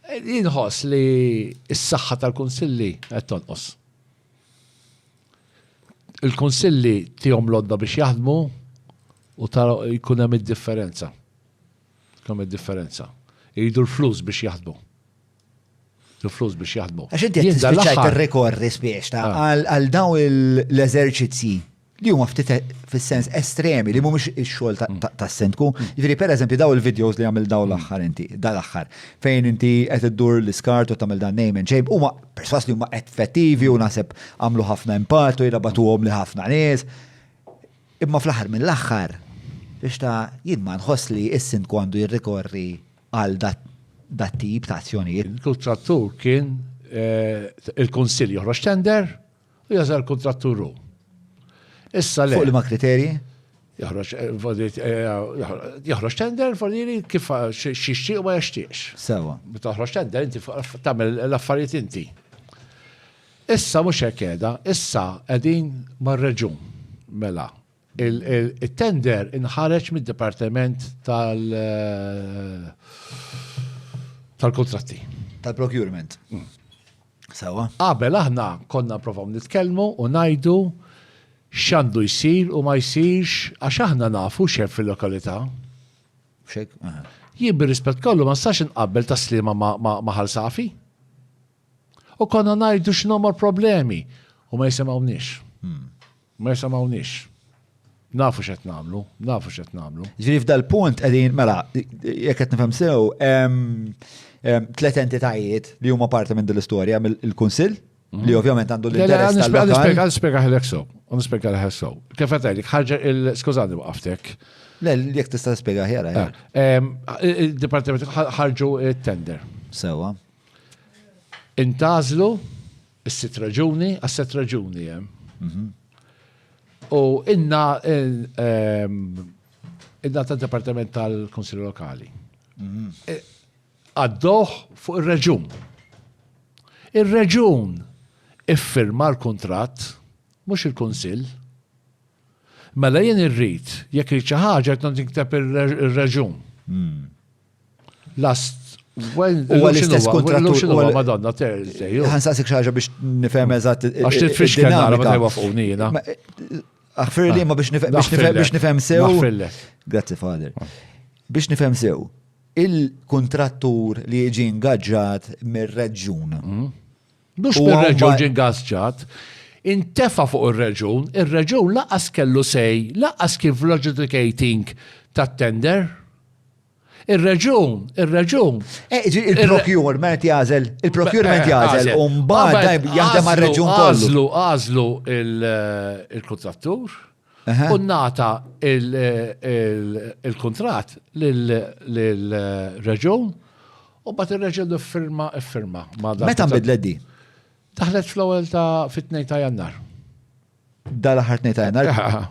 Inħoss li s-saħħa tal-kunsilli qed tonqos. Il-kunsilli tihom lodda biex jaħdmu u tara jkun hemm id-differenza. Kemm id-differenza. Iridu l-flus biex jaħdmu. il-flus biex jaħdmu. Għax inti qed tispiċċajt ir-rikorri spiex ta' ah. għal daw l-eżerċizzji li huma ftit fis-sens estremi li mhumiex ix-xogħol mm. tas-sendku. Mm. Jiġri pereżempju daw il-videos li għamil daw mm. l-aħħar inti, dal-aħħar, fejn inti qed iddur l-iskart u tagħmel dan name and shape, huma perswas li huma effettivi u naħseb għamlu ħafna impatt u jirabatuhom li ħafna nies. Imma fl-aħħar mill-aħħar biex ta' jien ma nħoss li is-sindku għandu jirrikorri għal dat tip ta' azzjonijiet. Il-kuntrattur kien eh, il-Kunsill joħroġ tender u jażel kuntrattur hu. Issa le. Fuq li ma' kriterji? Joħroġ eh, eh, joħroġ tender volili kif xixtieq u ma jaxtieqx. Sewa. Meta toħroġ tender inti tagħmel l-affarijiet inti. Issa mhux hekk qiegħda, issa qegħdin mar-reġun mela Il-tender inħareġ mid-Dipartiment tal- tal-kontratti. Tal-procurement. Mm. Sawa. Qabel aħna konna provaw nitkellmu u najdu xandu jisir u ma jisirx għax aħna nafu xef fil-lokalità. Xek? Jien bir-rispett kollu ma stax inqabbel ta' slima ma' ħalsafi. U konna najdu x'nomor problemi u ma jisimgħu nix. Hmm. Ma jisimgħunix. Nafu x'qed nagħmlu, nafu x'qed nagħmlu. Ġifieri f'dal-punt qegħdin mela jekk qed nifhem sew tliet entitajiet li huma parti minn din l-istorja mill-Kunsill mhm. li ovvjament għandu l-interess. Nispjega nispjega ħelek sew, nispjega ħelek sew. Kif qed għalik ħarġa il-skużani waqaftek. Le, jek tista' spjega ħjara. Eh. Ah, eh, Il-Dipartiment ħarġu tender. Sewa. Intazlu Is-sitt raġuni, għas-sitt raġuni hemm. Mhm. U inna ehm, inna ta' Departiment tal-Konsil Lokali. Mhm. E, għaddoħ fuq ir-reġun. Ir-reġun iffirma l-kuntratt, mhux il-Kunsill. Mela jien irrid, jekk rrid xi ħaġa qed nikteb ir-reġun. Mhm. Last Huwa l-istess kontrattur huwa Madonna Thursday. Ħansaqsik xi ħaġa biex nifhem eżatt. Għax titfix kemm nara meta jwafquni jiena. Aħfir li ma biex nifhem sew. Grazzi Fader. Ah. Biex nifhem sew. Il-kontrattur li jiġi ingaġġat mir-reġjun. Mm. Mhux mir-reġjun ġie ngażġat, intefa' fuq ir-reġjun, ir-reġjun lanqas kellu say, lanqas kien fl-adjudicating tat-tender. Ir-reġjun, ir-reġjun. Il-procurement jagħżel, il-procurement jagħżel u mbagħad jaħdem għar-reġjun kollu. Għażlu, għażlu il-kuntrattur, u nata il-kontrat l-reġun u bat il-reġun firma firma. Meta bidlet di? Taħlet fl-ewwel ta' fit-2 ta' jannar. Dal-aħħar 2 ta' jannar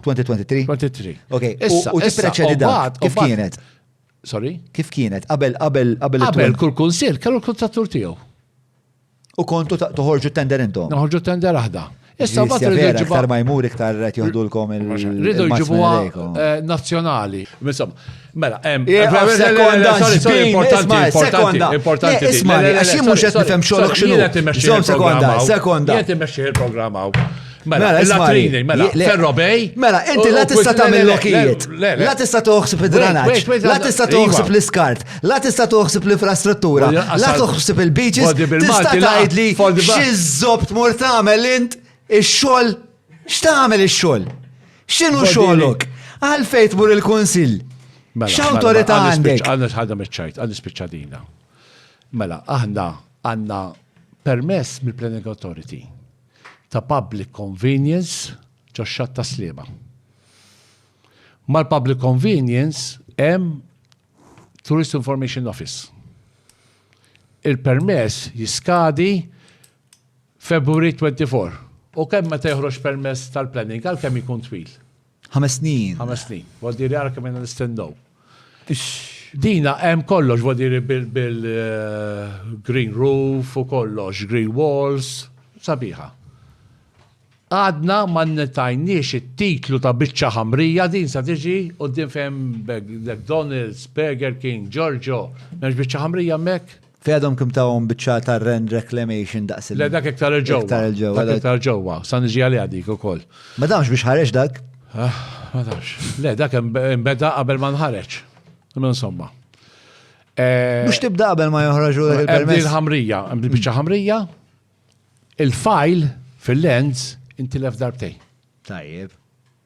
2023? 23. Ok, u tispreċedi da. Kif kienet? Sorry? Kif kienet? Qabel qabel qabel. Qabel kull kunsil kellu l-kontrattur tiegħu. U kontu toħorġu tender intom? Noħorġu tender aħda. Issa bat rridu ġibu. Iktar ma jmur iktar qed joħdulkom il Rridu ġibu eh, nazzjonali. Insomma, mela, hemm. Sekonda, importanti, importanti, importanti. Isma' għax jien mhux qed nifhem xogħolok x'inhu. Sekonda, sekonda. Jien timmexxi il-programm hawn. Mela, mela il-latrini, mela, ferrobej. Mela, inti la tista tagħmel lokijiet. La tista toħsib id-dranaġġ. La tista toħsib l-iskart. La tista toħsib l-infrastruttura. La toħsib il-beaches. Tista tgħidli xi żobt mur tagħmel int ix-xogħol. X'tagħmel ix-xogħol? X'inhu xogħolok? Għalfejn tmur il-kunsill. Mela, X'awtorità mela, għandek? Għandna ħadda miċ-ċajt, għandna spiċċadina. Mela, aħna għandna permess mill-Planning Authority ta' Public Convenience ġox-Xatt tas-Sliema. Mal-Public Convenience hemm Tourist Information Office. Il-permess jiskadi February 24. U kemm meta joħroġ permess tal-planning għalkemm ikun twil? Ħames snin. Ħames snin. Vuol dire ara kemm inna nistennew. Dina hemm kollox, vuol dire bil-green eh, roof u kollox, green walls, sabiħa għadna ma netajniex it-titlu ta' biċċa ħamrija din sa tiġi u din fem McDonald's, Burger King, Giorgio, meġ biċċa ħamrija mek? Fej għadhom kim tawhom biċċa ta' rend reclamation daqs il- Le dak iktar il-ġewwa. Iktar il-ġewwa, Dak le. iktar ġewwa. Sa niġi għaliha dik ukoll. Ma damx biex ħareġ dak? Ah, Ma tafx. Le dak em- imbeda qabel ma nħareġ. Imma insomma. Eh, Mhux tibda qabel ma joħraġu dak Ebdi il-permess. l-ħamrija, ebdi biċċa ħamrija, il-fajl fil-lens intilef darbtejn. Tajjeb.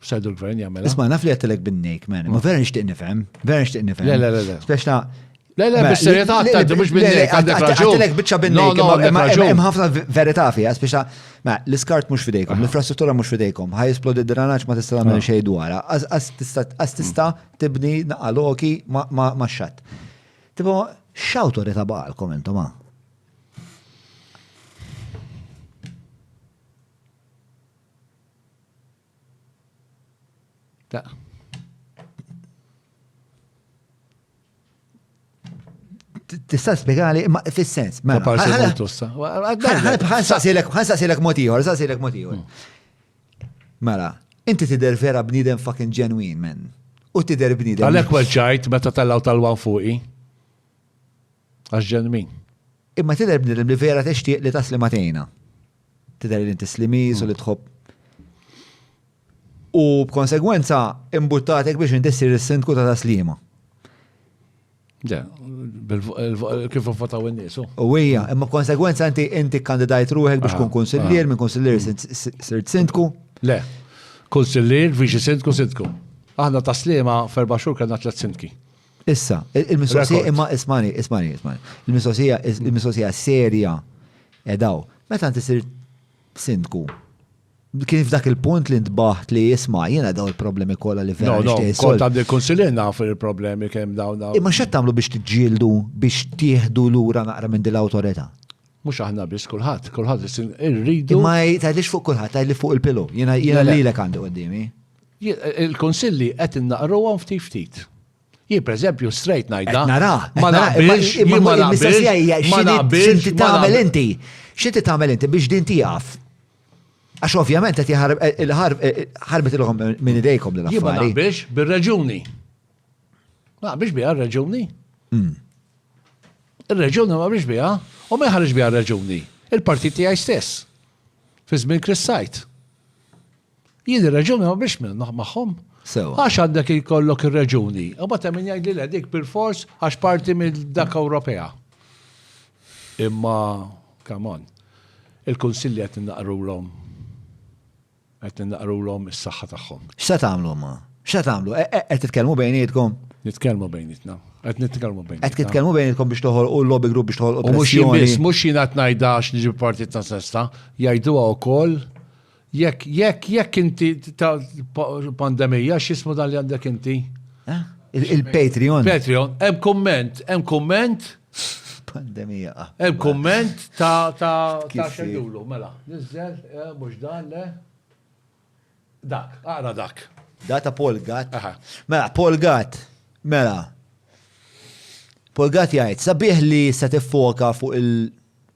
Xajdu l-gvern jagħmel. Isma' naf li għattilek bin-nejk, man. Ma vera nixtieq nifhem, vera nixtieq nifhem. Le, le, le, le. Speċna. Le, le, bis serjetà għattilek mhux bin-nejk, għandek raġun. Għattilek biċċa bin-nejk, hemm ħafna verità fiha, speċna. Ma l-iskart mhux fidejkom, l-infrastruttura mhux fidejkom, ħaj esplodi d-dranaġġ ma tista' tagħmel xejn dwarha. Għas tista' tibni naqaloki ma' xatt. Tipo, x'awtorità baqalkom intom ha? Ta. Tista' spjegali ma fis-sens. Ma mela, parsi multussa. Ħansaqsilek, ħansaqsilek mod ieħor, ħansaqsilek mod ieħor. Hmm. Mela, inti tidher vera bniedem fucking ġenwin, men. U tidher bniedem. Għalhekk weġġajt meta tellgħu tal-wan fuqi. Għax ġenwin. Imma tidher bniedem li vera tixtieq li tasli ma tgħinha. Tidher li inti slimiż u li tħobb. U b'konsegwenza imbuttatek biex inti ssir is-sindku ta' taslima. Ja, kif votaw in-nies. U hija, imma b'konsegwenza inti inti kandidajt ruħek biex tkun ah, kunsillier, ah. minn kunsillier sirt sindku. Le, kunsillier, viċi sindku, sindku. Aħna taslima ferba xhur kellna tliet sindki. Issa, il-mistoqsija imma ismani, ismani, ismani. Il-mistoqsija, il-mistoqsija serja edaw. Meta inti sir sindku, kien f'dak il-punt li ntbaħt li jisma' jiena daw il-problemi kollha li vera nixtieq. Kont għandi konsilin naf il-problemi kemm dawn. Imma x'qed tagħmlu biex tiġġieldu biex tieħdu lura naqra minn din l-awtorità? Mhux aħna biss kulħadd, kulħadd irridu. Imma tgħidlix fuq kulħadd, tgħidli fuq il-pilu. Jiena jiena lilek għandi qudiemi. Il-kunsilli qed innaqruhom ftit ftit. Jien pereżempju straight ngħidha. Qed nara, ma naqbilx, imma ma naqbilx. Ma naqbilx x'inti tagħmel inti. X'inti tagħmel inti biex din tieqaf? Għax ovvjament qed ħarbet ilhom minn idejkom din affari. Ma naqbilx bir-reġuni. Ma naqbilx biha r-reġuni. Hmm. Ir-reġuni ma naqbilx biha u ma jħarġ biha r-reġuni. Il-partit tiegħi stess. Fi żmien Chris Sajt. Jien ir-reġuni ma biex minn magħhom. Sewa. Għax għandek ikollok ir-reġuni. U bata min jgħid li le dik bil-fors għax parti minn dak Ewropea. Imma, come on, il-kunsilli qed innaqrulhom qed innaqrulhom is-saħħa tagħhom. X'se tagħmlu ma? X'se tagħmlu? E, e, qed titkellmu bejnietkom? Nitkellmu bejnietna. Qed nitkellmu bejn. Qed titkellmu bejnitkom biex toħolqu l-lobby group biex toħolqu U mhux jien pressjoni. biss, mhux jien qed ngħidha għax niġi partit ta' sesta, jgħiduha wkoll Jekk, jekk, jekk inti ta' pandemija, x'ismu dan li għandek inti? Eh? Il-Patreon. Patreon, hemm komment, hemm komment. Pandemija. Ah, hemm komment ta' ta' ta' xejjulu, mela. Nizzel, eh, mhux dan le. Dak, ara dak. Data Paul Gat. Mela, Paul Gat. Mela. Paul Gat jgħid, sabiħ li se tiffoka fuq il-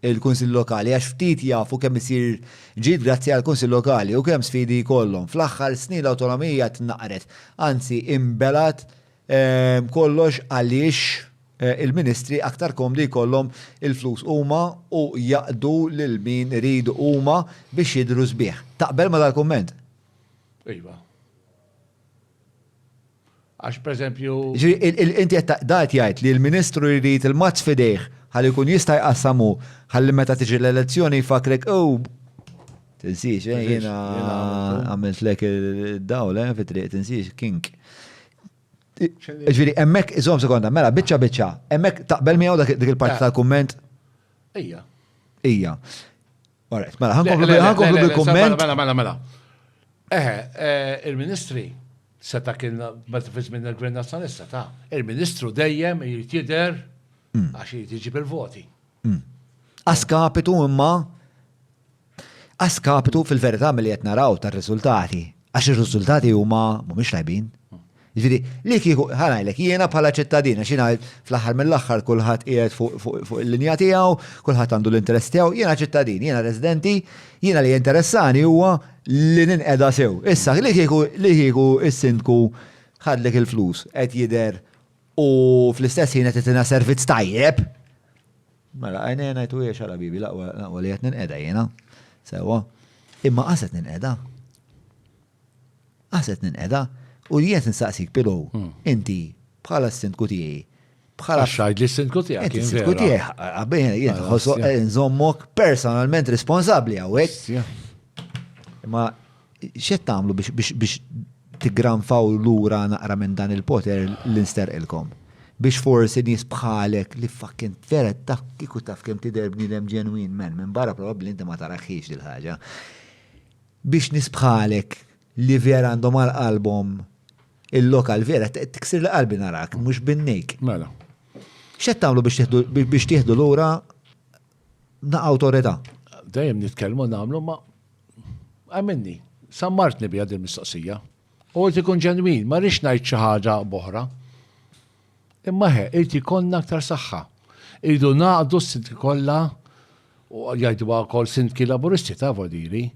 il-Kunsilli Lokali għax ftit jafu kemm isir ġid grazzi għall-Kunsill Lokali u kemm sfidi jkollhom. Fl-aħħar snin l-awtonomija tnaqqret, anzi inbelgħet kollox għaliex il-ministri aktar komdi jkollhom il-flus huma u jaqdu lil min iridu huma biex jidhru sbieħ. Taqbel ma' dal-kumment? Iva. Għax pereżempju. Jiġifieri inti qed da qed jgħid li l-Ministru jrid il-mazz f'idejh ħalli jkun jista' jqassam hu ħalli meta tiġi l-elezzjoni jfakkrek ew tinsiex eh jiena għamiltlek id-dawl eh fit-triq tinsiex kink. Ġifieri hemmhekk iżomm sekonda, mela biċċa biċċa, hemmhekk taqbel miegħu dik il-parti tal-kumment? Ija. Ija. Alright, mela, ħankomplu bil-komment. Mela, mela, mela. Eħe, eh, il-ministri seta kien meta fiż minn il-Gvern Nazzjonalista ta' il-ministru dejjem jrid jidher mm. għax jrid jiġi bil-voti. Mm. Askapitu imma askapitu fil-verità mill qed naraw tar-riżultati Għax ir-riżultati huma mhumiex tajbin. Ġifieri, li kieku ħanajlek jiena bħala ċittadin għax jiena fl-aħħar mill-aħħar kulħadd qiegħed fuq il-linja tiegħu, kulħadd għandu l-interess tiegħu, jiena ċittadin, jiena residenti, jiena li jinteressani huwa li ninqeda sew. Issa, li kieku li kieku s-sindku ħadlek il-flus qed jidher u fl-istess ħin qed itina servizz tajjeb, Mela, għajnejja ngħid u hija xagħla bibi, l-aqwa li qed ninqeda jiena. Sewwa. Imma qas qed ninqeda. Qas qed ninqeda. U jiet nistaqsik pilu, hmm. inti bħala s-sindku tiegħi, bħala. Xajd li s-sindku tiegħi. Inti s-sindku tiegħi, għabbejn jien nħossu eh, nżommok personalment responsabbli hawnhekk. Imma X'qed tagħmlu biex tigranfaw lura naqra minn dan il-poter li nsterqilkom? Biex forsi nies bħalek li fucking feret taf kieku taf kemm tidher bniedem ġenwin man, minn barra probabbli inti ma taraħħiex dil-ħaġa. Biex nies bħalek li vera għandhom għal qalbhom il-lokal vera tiksir li qalbi narak, mhux binnejk. Mela. X'qed tagħmlu biex tieħdu lura na awtorità. Dejjem nitkellmu nagħmlu ma għamilni. Sammartni bija din mistoqsija. U għed ikun ġenwin, ma rix ngħid xi ħaġa boħra. Imma he, irid ikollna aktar saħħa. Irridu naqdu s-sindki kollha u jgħidu wkoll sindki laburisti ta' vodiri.